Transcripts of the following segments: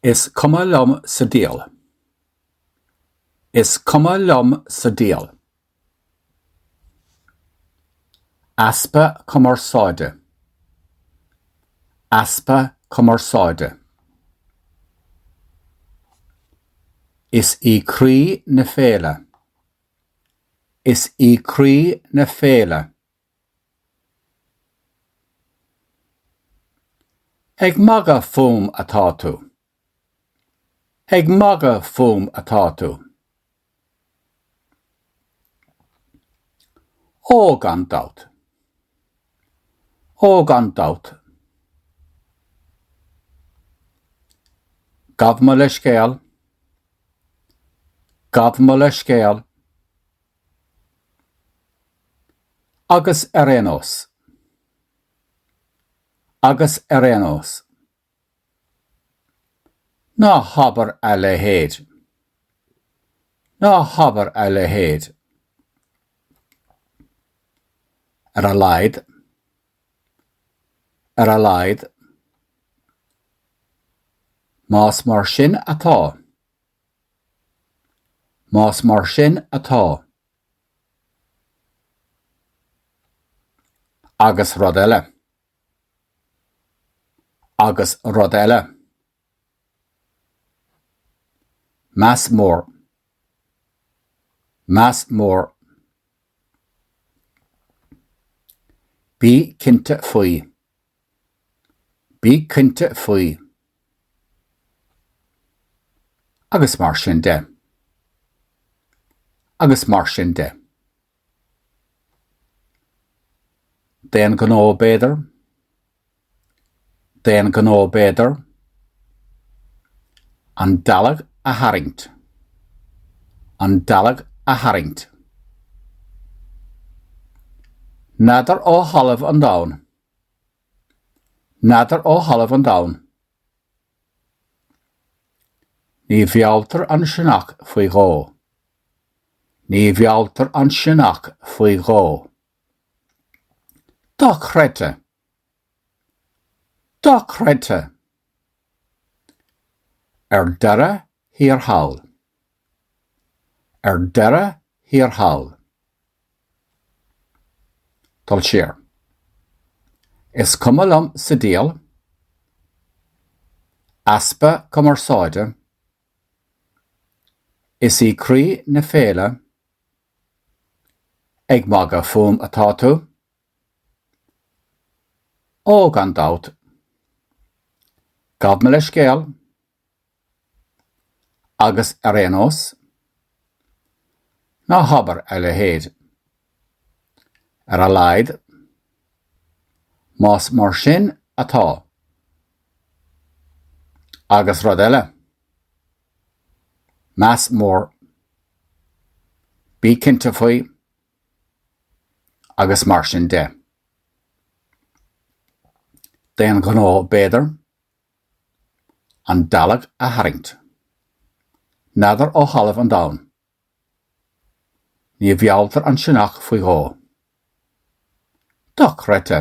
Is cuma liom sa diabhal. Is cuma liom sa diabhal. easpa cumarsáide easpa cumarsáide Is í croí na féile. Is í croí na féile. Ag magadh fúm atá tú! Ag magadh fúm atá tú! Ó, gan dabht. Ó, gan dabht. Gabh mo leithscéal. Gabh mo leithscéal. Agus ar aon nós. Agus ar aon nós. Ná habair a leithéid. Ná habair a leithéid. Ar a laghad. Ar a laghad. Más mar sin atá. Más mar sin atá, agus rud eile. Agus rud eile. Meas mór. Meas mór. Bí cinnte faoi. Bí cinnte faoi. Agus mar sin de. Agus mar sin de. D'aon ghnó b'fhéidir? D'aon ghnó b'fhéidir? An dealg a tharraingt. An dealg a tharraingt. N'fheadar ó thalamh an domhain N'fheadar ó thalamh an domhain. Ní mhealltar an sionnach faoi dhó. Ní mhealltar an sionnach faoi dhó. Dochreidte! Dochreidte! Ar deireadh thiar thall. Ar deireadh thiar thall, dul siar. Is cuma liom sa diail, easpa cumarsáide, is í croí na féile, ag magadh fúm atá tú? Ó, gan dabht. Gabh mo leithscéal. Agus ar aon nós? Ná habair a leithéid. Ar a laghad, más mar sin atá. Agus rud eile. Meas mór. Bí cinnte faoi. Agus mar sin de. D'aon ghnó, b'fhéidir? An dealg a tharraingt. N'fheadar ó thalamh an domhain. Ní mhealltar an sionnach faoi dhó. Dochreidte!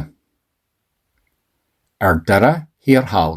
Ar deireadh thiar thall.